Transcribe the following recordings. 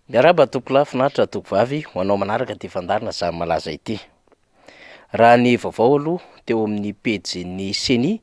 Miarahaba antoko lahy, finaritra antoko vavy, ho anao manaraka ity fandaharana zany malaza ity. Raha ny vaovao aloha teo amin'ny pejin'ny Ceni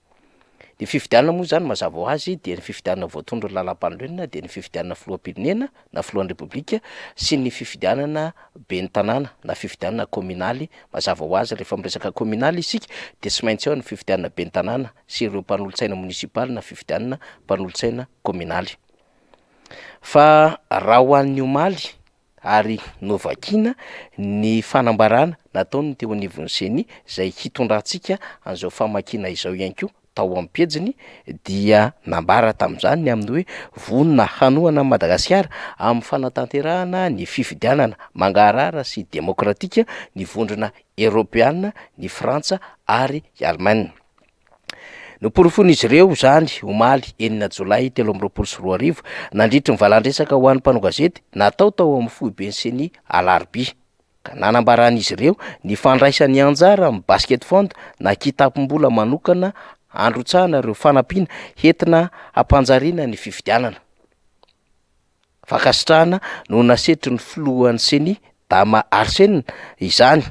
Ny fifidianana moa zany mazava ho azy dia ny fifidianana voatondron'ny lalampanorenana dia ny fifidianana filoham-pirenena na filohan'ny repoblika sy ny fifidianana ben'ny tanàna na fifidianana kaominaly, mazava ho azy rehefa miresaka kaominaly isika dia tsy maintsy ao ny fifidianana ben'ny tanàna sy ireo mpanolotsaina monisipaly na fifidianana mpanolotsaina kaominaly. Fa raha ho an'ny omaly ary novakina ny fanambarana nataon'ny teo anivon'ny ceni izay hitondrantsika an'izao famakiana izao ihany koa, tao amin'ny pejiny dia nambara tamin'izany ny amin'ny hoe vonona hanohana an'i Madagasikara amin'ny fanatanterahana ny fifidianana mangarahara sy demokratika ny vondrona eropeana, ny Frantsa ary i Allemagne. Noporofoin'izy ireo izany, omaly, enina jolay telo amby roapolo sy roa arivo, nandritry ny valan-dresaka ho an'ny mpanao gazety natao tao amin'ny foiben'ny Ceni, alarobia, ka nanambaran'izy ireo ny fandraisany anjara amin'ny Basket Fund na kitapom-bola manokana handrotsahana ireo fanampiana entina hampanjariana ny fifidianana. fankasitrahana no nasetrin'ny filohan'ny Ceni, Dama Arsena izany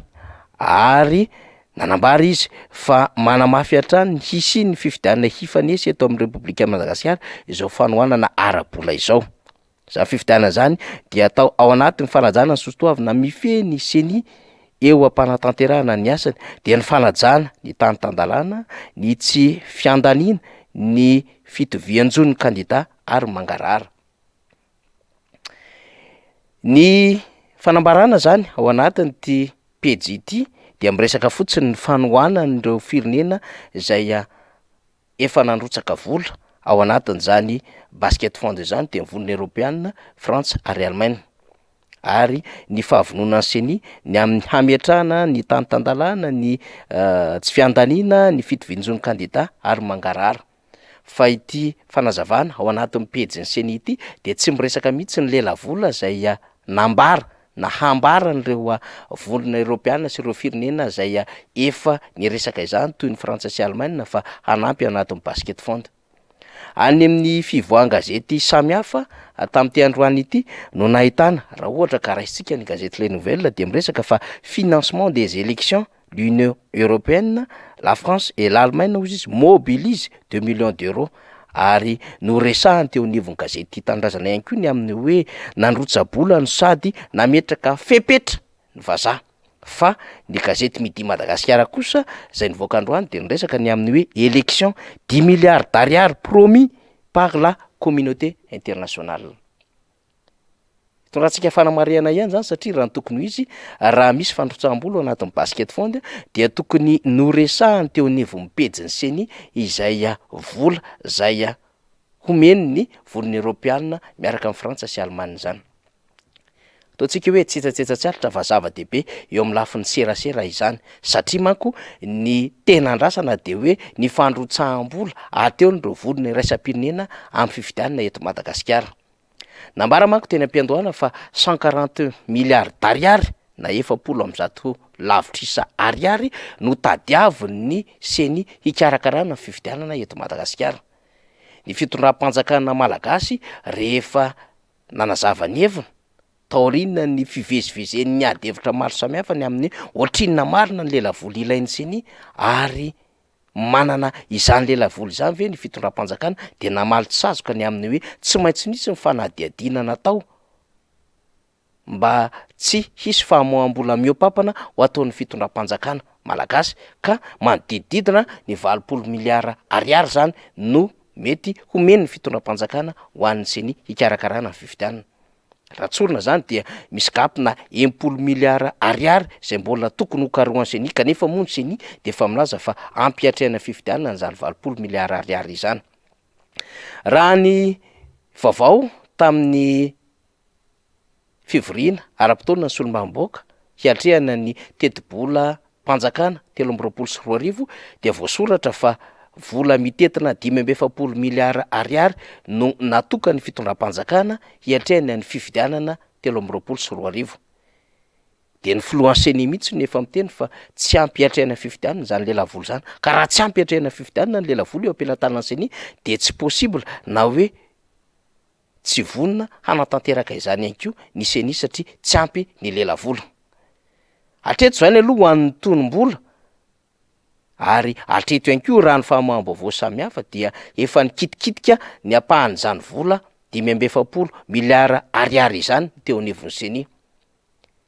ary nanambara izy fa manamafy hatrany ny hisian'ny fifidianana hifanesy eto amin'ny Repoblikan'i Madagasikara izao fanohanana ara-bola izao. Izany fifidianana izany dia atao ao anatin'ny fanajana ny sosotoavina mifehy ny Ceni eo am-panatanterahana ny asany, dia ny fanajana ny tany tan-dalàna, ny tsy fiandaniana, ny fitovian-jo ny kandida. ary mangarahara. Ny fanambarana zany ao anatin'ity pejy ity dia miresaka fotsiny ny fanohanan'ireo firenena zay a- efa nandrotsaka vola ao anatin'izany basket fund zany dia ny vonona eropeana, Frantsa ary Allemagne, ary ny fahavononan'ny Ceni ny amin'ny hametrahana ny tany tan-dalàna, ny tsy fiandaniana, ny fitovian-jo ny kandida ary mangarahara. fa ity fanazavana ao anatin'ny pejin'ny ceni ity dia tsy miresaka mihitsy ny lelavola izay nambara na hambaran'ireo vondrona eropeana sy ireo firenena izay efa niresaka izany toy ny Frantsa sy Alemaina fa hanampy ao anatin'ny Basket Fund. Any amin'ny fivoahan-gazety samihafa tamin'ity androany ity no nahitana, raha ohatra ka raisintsika ny gazety Les Nouvelles dia miresaka fa financement des élections l'Union Européenne, la France et l'Allemagne hozy izy, mobilise deux millions d'euros ary noresahany teo anivon'ny gazety Tia Tanindrazana ihany koa ny amin'ny hoe nandrotsa-bola no sady nametraka fepetra ny vazaha. Fa ny gazety Midi Madagasikara kosa izay nivoaka androany dia niresaka ny amin'ny hoe élection, dix milliards d'ariary promis par la communauté internationale. Torantsika fanamarihana ihany zany satria raha ny tokony ho izy, raha misy fandrotsaham-bola ao anatin'ny basket fund dia tokony noresahany teo anivon'ny pejin'ny ceni izay vola izay homeny ny voron'ny eropeana miaraka amin'i Frantsa sy Alemana izany. Ataontsika hoe tsetsatsetsa-tsaratra fa zava-dehibe eo amin'ny lafiny serasera izany satria manko ny tena andrasana dia hoe ny fandrotsaham-bola aterony ireo voron'ny iraisam-pirenena amin'ny fifidianana eto Madagasikara. Nambara manko teny am-piandohana fa cent quarante milliards d'ariary na efapolo amby zato lavitrisa ariary no tadiavin'ny ceni hikarakarana ny fifidianana eto Madagasikara. Ny fitondram-panjakana malagasy rehefa nanazava ny heviny taorianan'ny fivezivezen'ny ady hevitra maro samihafa ny amin'ny ohatrinona marina ny lelavola ilain'ny ceni ary manana izany lelavolo izany ve ny fitondram-panjakana dia namaly tsy sazoka ny amin'ny hoe tsy maintsy nisy ny fanadihadiana natao mba tsy hisy famoaham-bola mihoa-pampana ho ataon'ny fitondram-panjakana malagasy ka manodidididina ny valopolo miliara ariary izany no mety homen'ny fitondram-panjakana ho an'ny ceni hikarakarana ny fifidianana. Raha tsorina izany dia misy gap na enimpolo milliards ariary izay mbola tokony hokarohan'ny ceni kanefa moa ny ceni dia efa milaza fa ampy hiatrehana ny fifidianana izany valopolo milliards ariary izany. Raha ny vaovao tamin'ny fivoriana ara-potoana ny solombavambahoaka hiatrehana ny tetibola Mpanjakana telo amby roapolo sy roa arivo dia voasoratra fa vola mitentina dimy amby efapolo miliara ariary no natokan'ny fitondram-panjakana hiatrehana ny fifidianana telo amby roapolo sy roa arivo. Dia ny filohan'ny ceni mihitsy no efa miteny fa tsy ampy hiatrehana fifidianana izany lelavola izany. Ka raha tsy ampy hiatrehana fifidianana ny lelavola eo am-pelatanan'ny ceni dia tsy possible na hoe Tsy vonona hanatanteraka izany ihany koa ny ceni satria tsy ampy ny lelavola. Hatreto izany aloha ho an'ny tonom-bola ary hatreto ihany koa raha ny famoaham-baovao samihafa dia efa nikitikitika ny ampahan'izany vola dimy amby efapolo miliara ariary izany teo anivon'ny ceni.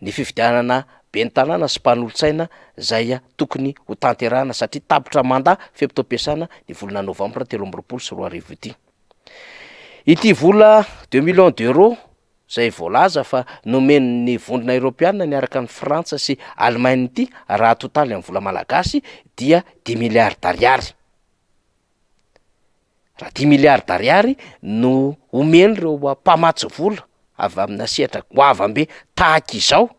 ny fifidianana ben'ny tanàna sy mpanolotsaina izay tokony ho tanterahana satria tapitra mandat fe-potoam-piasana ny volana novambra telo amby roapolo sy roa arivo ity. Ity vola deux millions d'euros izay voalaza fa nomen'ny vondrona eropeanina niaraka an'i Frantsa sy Allemagne ity raha atotaly amin'ny vola malagasy dia dimy milliards d'ariary. Raha dimy milliards ariary no omen'ireo mpamatsy vola avy aminà sehatra goavambe tahaka izao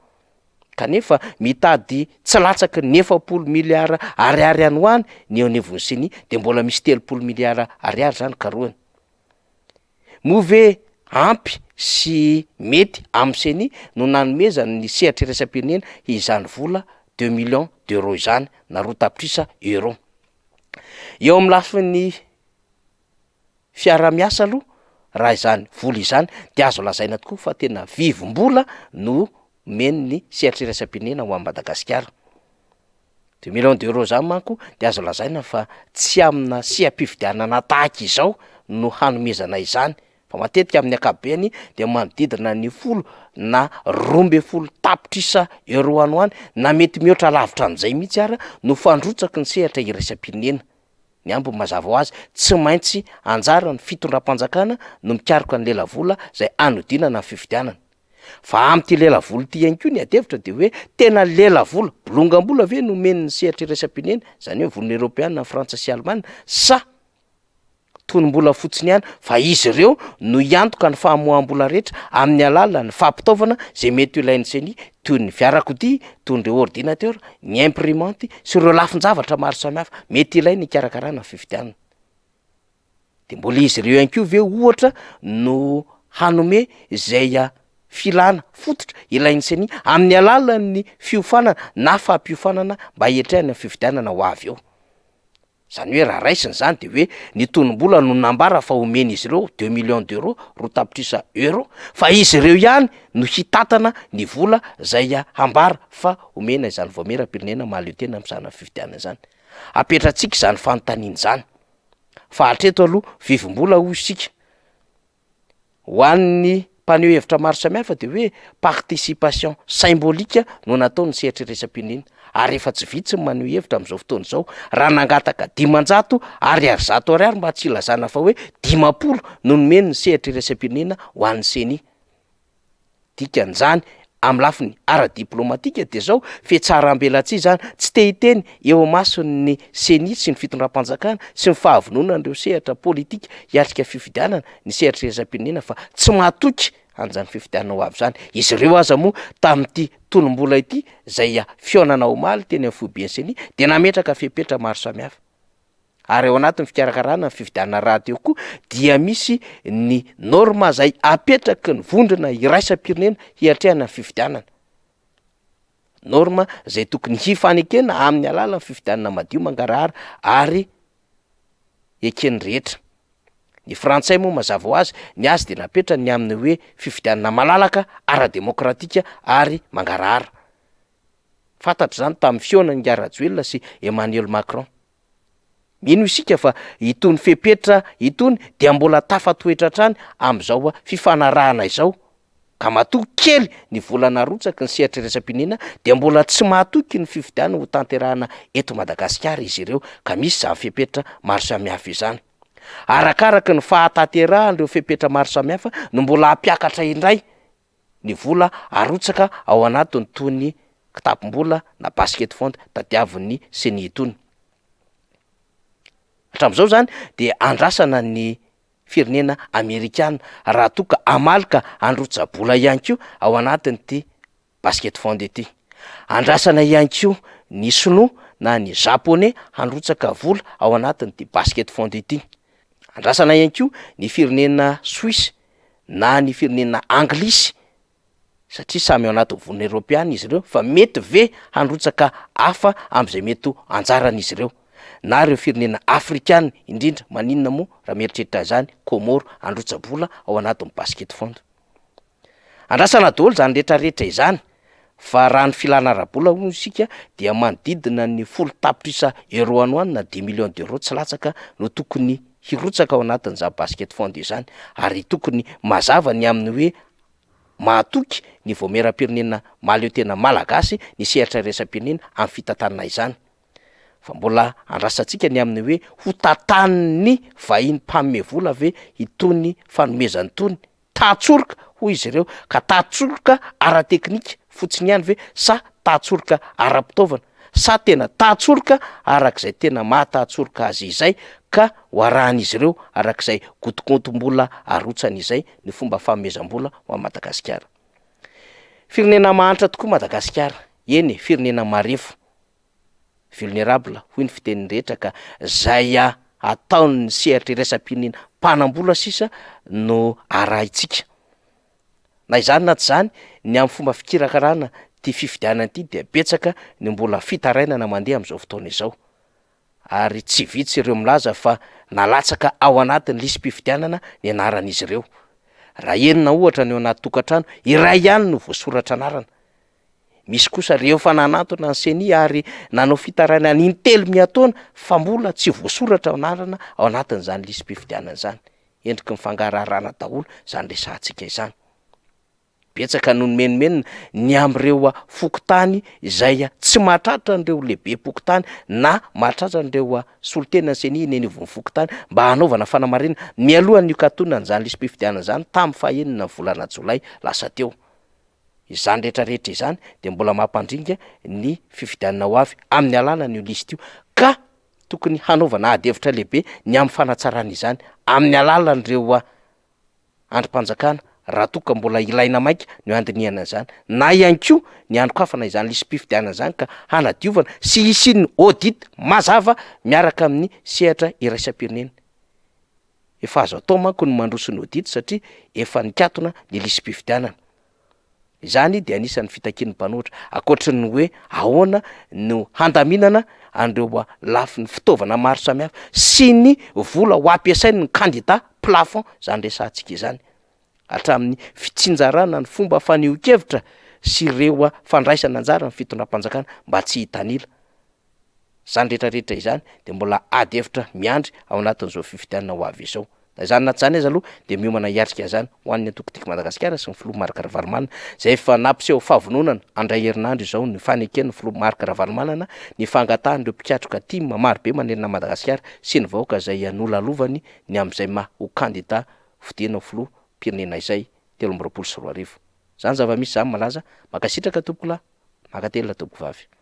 kanefa mitady tsy latsaky ny efapolo milliards ariary ihany ho any ny eo anivon'ny Ceni dia mbola misy telopolo milliards ariary zany karohina. Moa ve ampy sy mety amin'ny Ceni no nanomezany ny sehatra iraisam-pirenena izany vola deux millions d'euros izany na roa tapitrisa euros? Eo amin'ny lafiny fiaraha-miasa aloha raha izany vola izany de azo lazaina tokoa fa tena vivim-bola no omen'ny sehatry iraisam-pirenena ho an'i Madagasikara. Deux millions d'euros zany manko de azo lazaina fa tsy amina seha-pifidianana tahaka izao no hanomezana izany fa matetika amin'ny ankapobeny dia manodidina ny folo na roa ambin'ny folo tapitrisa euros any ho any na mety mihoatra lavitra an'izay mihitsy ary no fandrotsaky ny sehatra iraisam-pirenena. Ny ambiny mazava ho azy, tsy maintsy anjaran'ny fitondram-panjakana no mikaroka ny lelavola izay hanodinana ny fifidianana. Fa amin'ity lelavola ity ihany koa ny adihevitra dia hoe tena lelavola, bolongam-bola ve no omen'ny sehatra iraisam-pirenena, izany hoe volana eropeana, frantsa sy alemana sa? tonom-bola fotsiny ihany fa izy ireo no hiantoka ny famoaham-bola rehetra amin'ny alalan'ny fampitaovana izay mety ho ilain'ny ceni toy ny fiarakodia, toy ireo ordinatera, ny imprimanty sy ireo lafin-javatra maro samihafa mety ilaina hikarakarana ny fifidianana. Dia mbola izy ireo ihany koa ve ohatra no hanome izay filana fototra ilain'ny ceni amin'ny alalan'ny fiofanana na fampiofanana mba hiatrehana ny fifidianana ho avy eo? Izany hoe raha raisina izany dia hoe ny tonom-bola no nambara fa homen'izy ireo, deux millions d'euros, roa tapitrisa euros, fa izy ireo ihany no hitantana ny vola izay hambara fa homena izany vaomieram-pirenena mahaleo tena amin'ny sarina fifidianana izany. Apetratsika izany fanontaniana izany fa hatreto aloha vivim-bola hoy isika. ho an'ny mpaneho hevitra maro samihafa dia hoe participation symbolique no natao ny sehatry iraisampionena ary efa tsy vitsy ny maneho hevitra amin'izao fotoana izao raha nangataka dimanjato ariary zato ariary mba tsy hilazana fa hoe dimampolo no nomeny ny sehatry iraisampionena ho an'ny ceni Dikan'izany, amin'ny lafiny ara-diplaomatika dia izao, fihatsarambelatsihy izany tsy te hiteny eo imason'ny Ceni sy ny fitondram-panjakana sy ny fahavononan'ireo sehatra politika hiatrika fifidianana ny sehatry ny iraisam-pirenena fa tsy mahatoky an'izany fifidianana ho avy izany izy ireo aza moa tamin'ity tolombola ity izay fihaonana omaly teny amin'ny foiben'ny Ceni dia nametraka fepetra maro samihafa. ary ao anatin'ny fikarakarana ny fifidianana rahateo koa dia misy ny norma zay apetraky ny vondrona iraisam-pirenena hiatrehana ny fifidianana, norma zay tokony hifanekena amin'ny alalan'ny fifidianana madio mangarahara ary eken'ny rehetra, ny frantsay moa mazava ho azy ny azy de napetrany ny amin'ny hoe fifidianana malalaka, ara-demokratika ary mangarahara, fantatra zany tamin'ny fihaonan'i Ingahy Rajoelina sy Emmanuel Macron. Mino isika fa itony fepetra itony dia mbola tafatoetra hatrany amin'izao fifanarahana izao, ka matoa kely ny vola narotsaky ny sehatry iraisam-pirenena dia mbola tsy mahatoky ny fifidianana ho tanterahana eto Madagasikara izy ireo, ka misy izany fepetra maro samihafa izany. Arakaraky ny fahatanterahan'ireo fepetra maro samihafa no mbola hampiakatra indray ny vola arotsaka ao anatin'itony kitapom-bola na basket fund tadiavin'ny ceni itony. Hatramin'izao izany dia andrasana ny firenena amerikana raha toa ka hamaly ka handrotsa-bola ihany koa ao anatin'ity basket fund ity. Andrasana ihany koa ny sinoa na ny japoney handrotsaka vola ao anatin'ity basket fund ity. Andrasana ihany koa ny firenena Suisse na ny firenena anglisy satria samy ao anatin'ny vonona eropeana izy ireo fa mety ve handrotsaka hafa amin'izay mety ho anjaran'izy ireo? na ireo firenena afrikana indrindra maninona moa raha mieritreritra izany Comore handrotsa-bola ao anatin'ny basket fund? Andrasana daholo izany retraretra izany Fa raha ny filana ara-bola hono isika dia manodidina ny folo tapitrisa euros any ho any na dix millions d'euros tsy latsaka no tokony hirotsaka ao anatin'izany basket fund izany ary tokony mazava ny amin'ny hoe mahatoky ny vaomieram-pirenena mahaleo tena malagasy ny sehatra iraisam-pirenena amin'ny fitantanana izany fa mbola andrasantsika ny amin'ny hoe hotantanin'ny vahiny mpanome vola ve itony fanomezana itony tahan-tsoroka hoy izy ireo, ka tahan-tsoroka ara-teknika fotsiny ihany ve sa tahan-tsoroka ara-pitaovana sa tena tahan-tsoroka araka izay tena maha tahan-tsoroka azy izay ka ho arahan'izy ireo araka izay gotigotim-bola arotsany izay ny fomba fanomezam-bola ho an'i Madagasikara. Firenena mahantra tokoa Madagasikara, eny e, firenena marefo. vulnerable hoy ny fitenin'ny rehetra ka zay ataon'ny sehatry iraisam-pirenena mpanam-bola sisa no arahintsika. Na izany na tsy izany ny amin'ny fomba fikirakarana ity fifidianana ity dia betsaka ny mbola fitarainana mandeha amin'izao fotoana izao ary tsy vitsy ireo milaza fa nalatsaka ao anatin'ny lisi-pifidianana ny anaran'izy ireo. Raha enina ohatra no eo anaty tokantrano, iray ihany no voasoratra anarana. Misy kosa ireo efa nanantona ny Ceni ary nanao fitarainana in-telo miha-taona fa mbola tsy voasoratra ny anarana ao anatin'izany lisi-pifidianana izany. Endriky ny fangaraharana daholo izany resahantsika izany. Betsaka no nimenomenona ny amin'ireo fokontany izay tsy mahatratra an'ireo lehibem-pokontany na mahatratra an'ireo solontenan'ny Ceni eny anivon'ny fokontany mba hanaovana fanamarinana mialohan'ny hikatonana izany lisi-pifidianana izany tamin'ny fahenina ny volana jolay lasa teo. Izany rehetra rehetra izany dia mbola mampandringa ny fifidianana ho avy amin'ny alalan'io lisitra io ka tokony hanaovana ady hevitra lehibe ny amin'ny fanatsarana izany amin'ny alalan'ireo andrim-panjakana raha toa ka mbola ilaina maika ny handinihana an'izany na ihany koa ny hanokafana izany lisi-pifidianana izany ka hanadiovana sy hisian'ny audit mazava miaraka amin'ny sehatra iraisam-pirenena. Efa azo atao manko ny mandroso ny audit satria efa nikatona ny lisi-pifidianana. Izany dia anisan'ny fitakian'ny mpanohitra, ankoatry ny hoe ahoana no handaminana an'ireo lafiny fitaovana maro samihafa sy ny vola ho ampiasain'ny kandida plafond izany resahantsika izany, hatramin'ny fitsinjarana ny fomba fanehoan-kevitra sy ireo fandraisana anjara ny fitondram-panjakana mba tsy hitanila. Izany rehetra rehetra izany dia mbola ady hevitra miandry ao anatin'izao fifidianana ho avy izao. Na izany na tsy izany aza aloha dia miomana hiatrika izany ho an'ny antoko Tiako Madagasikara sy ny filoha Marc Ravalomanana izay efa nampiseho fahavononan andray herinandro izao ny faneken'ny filoha Marc Ravalomanana ny fangatahan'ireo mpikatroka tim marobe manerana an'i Madagasikara sy ny vahoaka izay nolalovany ny amin'izay maha ho kandida fodiana ho filoha mpirenena izay telo amby roapolo sy roa arivo. Izany zava-misy izany malaza. Mankasitraka tompokolahy. Mankatelina tompokovavy.